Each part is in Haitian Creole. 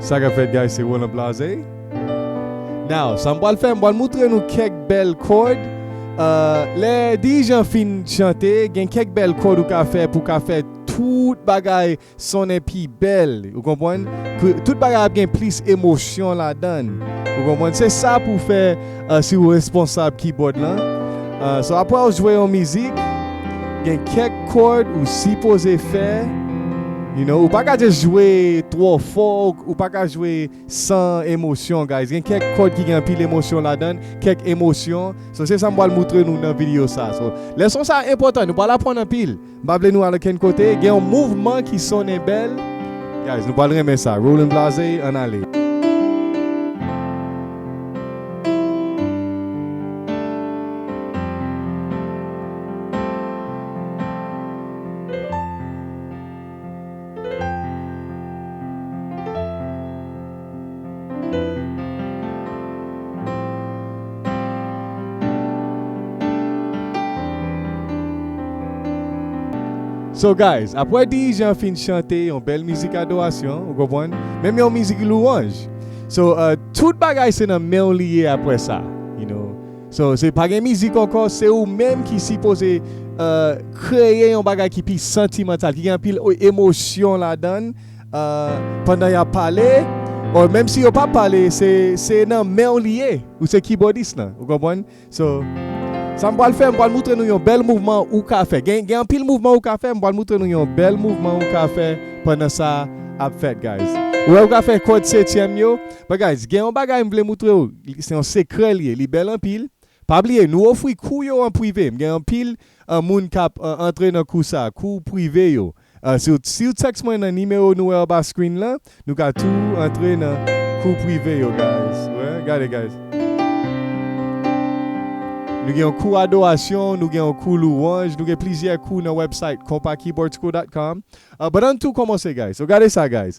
Sa kap fèt guys se Roland blaze Now sa m pral fè m pral moutre nou kèk bèl kòd Lè dirijan fin chante gen kèk bèl kòd ou ka fè pou ka fè tout bagay sonnen pi bèl ou konprann Tout bagay ap gen plis emosyon ladan ou konprann se sa pou fè Si ou responsab kibòd lan, so apre ou jwe yon mizik, gen kèk kòd ou sipoze fè, you know, ou pa ka just jwe twò fò, ou pa ka jwe san emosyon guys, gen kèk kòd ki gen anpil emosyon ladann, kèk emosyon, so se sa m pral moutre nou nan videyo sa, so lèson sa enpòtan nou pral aprann anpil. M pa vle nou al okenn kote gen yon mouvman ki sonnen bèl guys nou pral renmen sa Roland Blaze ann ale. So guys apwè dirijan an fin chante yon bèl mizik adorasyon ou konpwann menm yon mizik louwanj so tout bagay se nan menw li ye apwè sa you know So se pa gen mizik ankò se ou menm ki sipoze kreye yon bagay ki pi santimantal ki gen anpil emosyon ladann pandan yap pale or menm si yo pa pale se nan menw li ye ou se kibòdis lan ou konprann so sam pwal fè m pwal moutre nou yon bèl mouvman ou ka fè gen anpil mouvman ou ka fè m pwal moutre nou yon bèl mouvman ou ka fè pandan sa ap fèt guys ou wè ou ka fè kòd setyèm yo. But guys gen yon bagay m vle moutre w se yon sekrè li ye li bèl anpil pa bliye nou ofri kou yo an prive m gen anpil moun kap antre nan kou sa kou prive yo siw text mwen nan nimewo nou wè anba screen lan nou ka tou antre nan kou prive yo guys gade guys nou gen yon kou adorasyon nou gen yon kou louwanj nou gen plizyè kou nan website compakeyboardschool.com but ann tou komanse guys so gade sa guys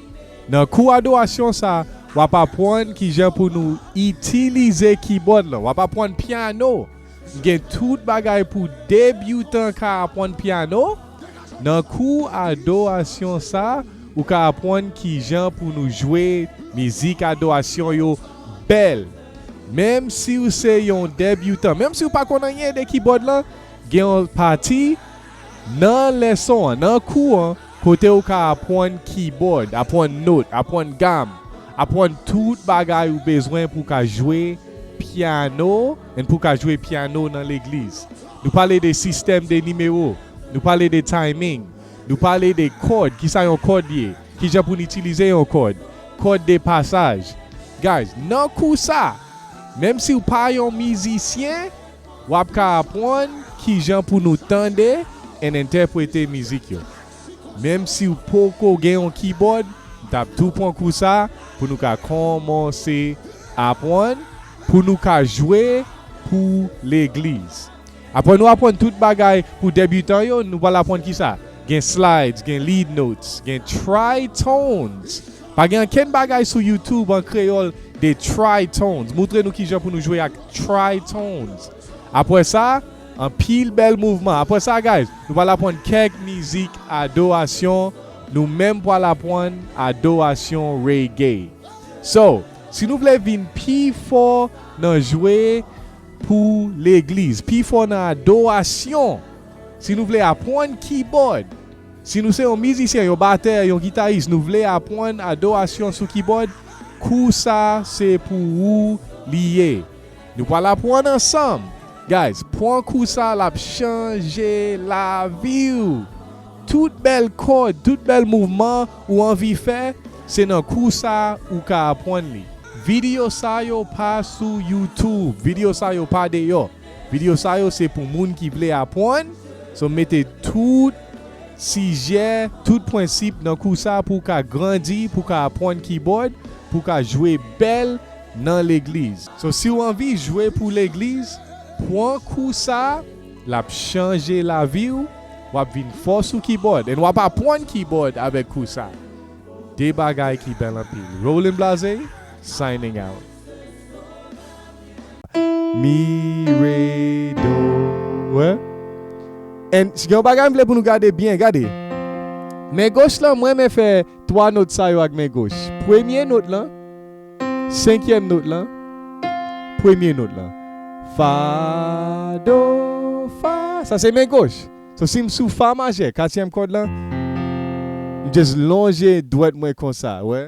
Nan kou adorasyon sa, w ap apwann kijan pou nou itilize kibòd lan, w ap apwann piano, m gen tout bagay pou debyoutan ka apwann piano, nan kou adorasyon sa ou ka apwann kijan pou nou jwe mizik adorasyon yo bèl, menm siw se yon debyoutan, menm siw pa konn anyen de kibòd lan, gen yon pati nan leson an, nan kou an. kote ou ka apwann kibòd, apwann not, apwann gam, apwann tout bagay ou bezwen pou w ka jwe pyano and pou w ka jwe pyano nan legliz. Nou pale de sistèm de nimewo, nou pale de timing, nou pale de kòd, kisa yon kòd ye, kijan pou n itilize yon kòd, kòd de pasaj. Guys, nan kou sa, menm si w pa yon mizisyen, W ap ka apwann kijan pou nou tande and entèprete mizik yo. Menm si w poko gen yon kibòd, m tap tou pwan kou sa pou nou ka konmanse apwann pou nou ka jwe pou legliz. Apwè nou apwann tout bagay pou debutan yo, nou pwal apwann kisa gen slides, gen lead notes, gen tritones. Pa gen ankenn bagay sou youtube an kreyòl de Trytonz moutre nou kijan pou nou jwe ak Trytonz apwè sa anpil bèl mouvman apwè sa guys nou pwal apwann kèk mizik adorasyon nou menm pwal apwann adorasyon reggae so si nou vle vin pi fò nan jwe pou legliz pi fò nan adorasyon si nou vle apwann kibòd. Si nou se yon mizisyen, yon batè, yon gitaris nou vle apwann adorasyon sou kibòd, kou sa se pou ou li ye. Nou pwal apwann ansanm! Guys pwan kou sa lap chanje laviw! Tout bèl kòd, tout bèl mouvman ou anvi fè, se nan kou sa ou ka apwann li. Video sa yo pa sou youtube, video sa yo pa deyò. Video sa yo se pou moun ki vle apwann, so m mete tout sijè, tout pwensip nan kou sa pou w ka grandi, pou w ka apwann kibòd, pou w ka jwe bèl nan legliz. So si w anvi jwe pou legliz, pwan kou sa, l ap chanje lavi w, w ap vin fò sou kibòd and w ap apwann kibòd avèk kou sa. 2 bagay ki bèl anpil. Roland Blaze signing out. Mi re do re en gen yon bagay m vle pou nou gade byen gade men goch lan m renmen fè 3 not sa yo ak men goch premye not lan senkyèm not lan premye not lan fa do fa sa se men goch so si m sou fa majè katyèm kòd lan m just lonje dwèt mwen konsa wè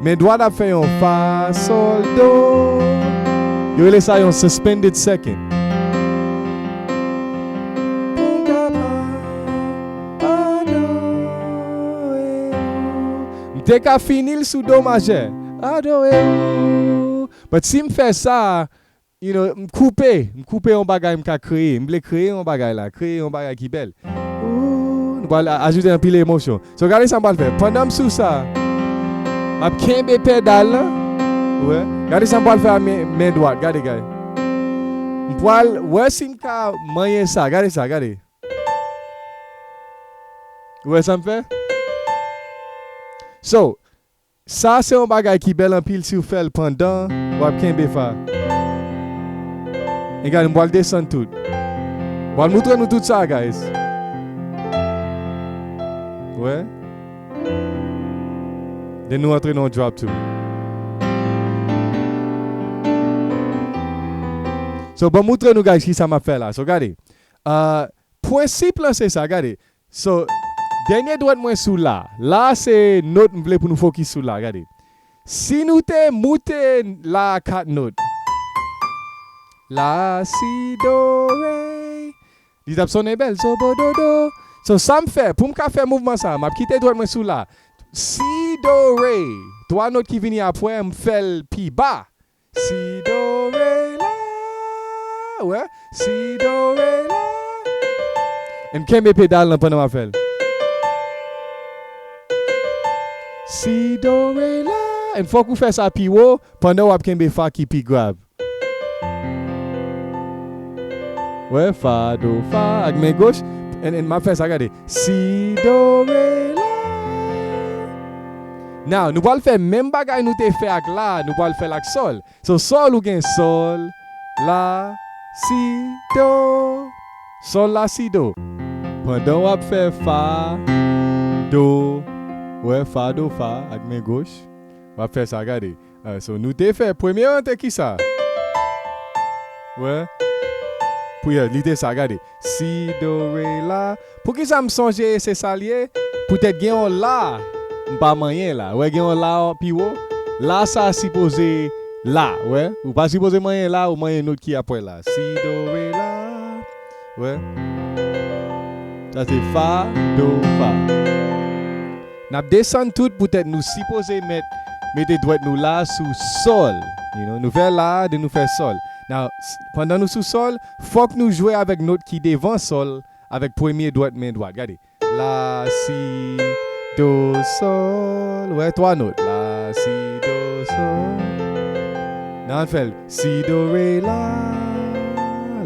Men dwat ap fè yon fa sol do Yo rele sa yon suspended second Pou m ka pa adore ou M te ka fini l sou do majè Adore ou But si m fè sa You know, m koupe, m koupe yon bagay m ka kreye. M vle kreye yon bagay la, kreye yon bagay ki bèl. Ooh, nou pral ajoute anpil emosyon. So gade sa m pral fè, pandan m sou sa, m ap kenbe pedal la, ou wè. Gade sa m pral fè a men dwat, gade, gade. M pral wè si m ka manyen sa, gade sa, gade. Ou wè sa m fè? So, Sa se yon bagay ki bèl anpil siw fèl pandan wap kenbe fa e gade m pwal desann tout m pwal moutre nou tout sa guys wè den nou antre nan yon drop tou so banm moutre nou guys kisa map fè la so gade ahh pwensip lan se sa gade So, dènye dwèt mwen sou la. La a se not m vle pou nou fokis sou la. Gade. Si nou te moute la a 4 not. La, si, do, re. Li t ap sonnen bèl. So, bo, do, do. So, sa m fè, pou m ka fè mouvman sa a, m ap kite dwèt mwen sou la. Si, do, re. 3 not ki vini apwè, m fè l pi ba. Si do re la ou wè si do re la. Em kenbe pedal lan pandan map fèl. Si do re la em fòk ou fè sa pi wo pandan wap kenbe fa ki pi grav. Wè fa do fa ak men goch en en map fè sa gade si do re la. Now nou pral fè menm bagay nou te fè ak la nou pral fèl ak sol so sol ou gen sol la si do sol la si do pandan wap fè fa do wè fa do fa ak men goch wap fè sa gade So nou te fè premye an te kisa? Wè pou yo li te sa gade si do re la poukisa m sonje se sa l ye poutèt gen yon la m pa manyen la wè gen yon la pi wo la sa sipoze la wè ou pa sipoze manyen la ou manyen nòt ki apre la si do re la. Wè Sa se Fa, Do, Fa Nap desann tout poutèt nou sipoze mèt mete dwèt nou la sou Sol you know nou fè La den nou fè Sol Now pandan nou sou Sol fòk nou jwe avèk not ki devan Sol avèk premye dwèt men dwat Gade La si do sol wè 3 not la si do sol nan al fèl si do re la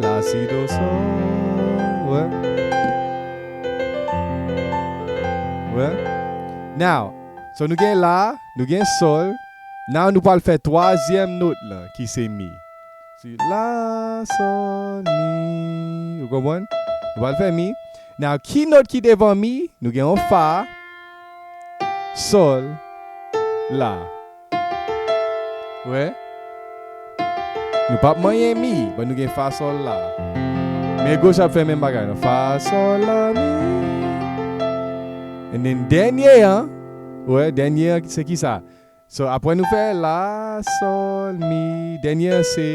la si do sol wè wè now so nou gen la nou gen sol now nou pwal fè 3 zièm not la ki se mi Si, la, sol, mi, ou konprann? Nou pral fè mi. Now, ki not ki devan mi? Nou gen yon fa, sol, la. Ou wè? Nou pap manyen mi, but nou gen fa, sol, la. Men goch ap fè menm bagay lan. Fa, sol, la, mi. And then, dènye an, ou wè, dènye an se kisa? So apre nou fè la, sol, mi, dènyè an se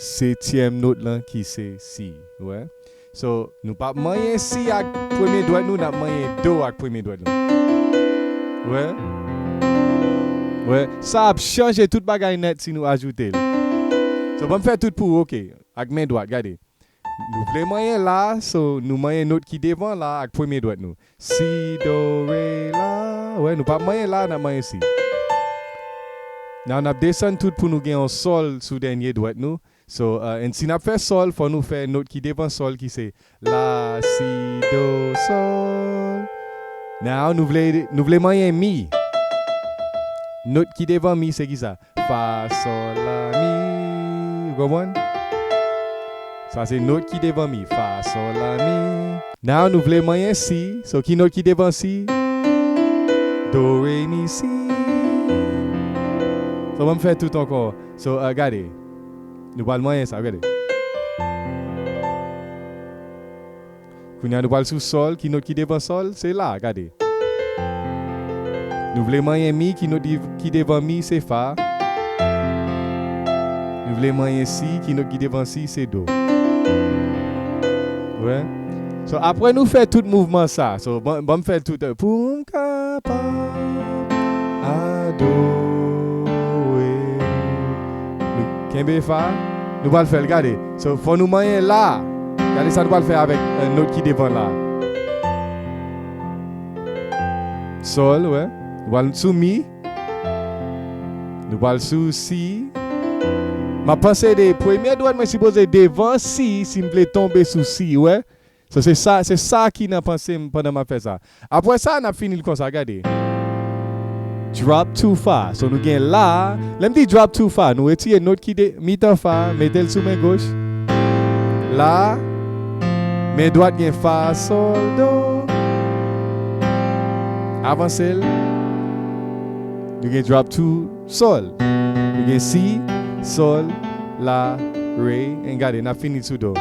setyèm not lan ki se si, ou wè? So nou pap manyen si ak premye dwèt nou, nap manyen do ak premye dwèt nou. Ou wè? Ou wè? Sa ap chanje tout bagay nèt si nou ajoute l. So banm fè tout pou ou ok, ak men dwat, gade. Nou vle manyen la so nou manyen not ki devan la ak premye dwèt nou si do re la wè nou pa manyen la nap manyen si now nap desann tout pou nou gen yon sol sou dènye dwèt nou so and si nap fè sol fò nou fè not ki devan sol ki se la si do sol now nou vle nou vle manyen mi not ki devan mi se kisa Fa sol la mi ou konprann sa se not ki devan mi fa sol la mi now nou vle manyen si so ki not ki devan si do re mi si so banm fè tout ankò so gade nou pral manyen sa gade. Kounya nou pral sou sol ki not ki devan sol se la gade Nou vle manyen mi ki not ki devan mi se fa Nou vle manyen si ki not ki devan si se do Ou wè So aprè nou fè tout mouvman sa so banm fèl tout Poum kapab adore Nou kenbe fa Nou pral fèl gade So, fò nou manyen la a. Gade sa nou pral fè avèk nòt ki devan la a. Sol, wè. Nou pral sou mi. Nou pral sou si. M ap panse de premye dwèt mwen sipoze devan si, si m vle tonbe sou si, wè. So se sa se sa ki nan panse m pandan m ap fè sa. Apwè sa n ap fini l konsa gade. Drop two fa so nou gen la lè m di drop two fa nou retire not ki de mitan fa mete l sou men goch la men dwat gen fa sol do avanse l nou gen drop two. Sol. Nou gen si, sol, la, re, en gade nap fini sou do.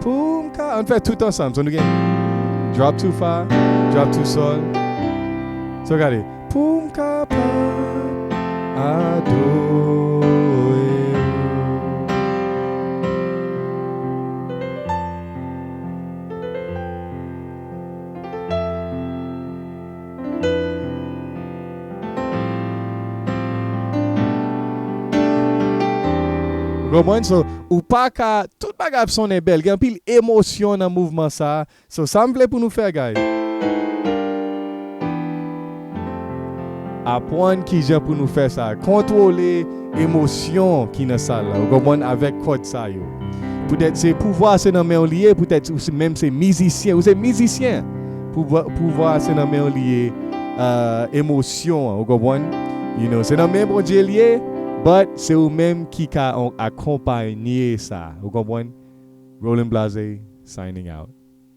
Poum ka, ann fè tout ansanm so nou gen drop to fa, drop to sol so gade poum kapab adore ou. Ou konprann so ou paka tout bagay ap sonnen bèl gen anpil emosyon nan mouvman sa so sam vle pou nou fè guys apwann kijan pou nou fè sa kontwole emosyon ki nan sal la ou konprann avèk kòd sa yo poutèt se pouvwa se nan menw li ye poutèt ou menm se mizisyen ou se mizisyen. Pouvwa a se nan menw li ye emosyon an ou konprann you know se nan men Bondye li ye but se ou menm ki ka akonpanye sa ou konprann Rolling Blase signing out.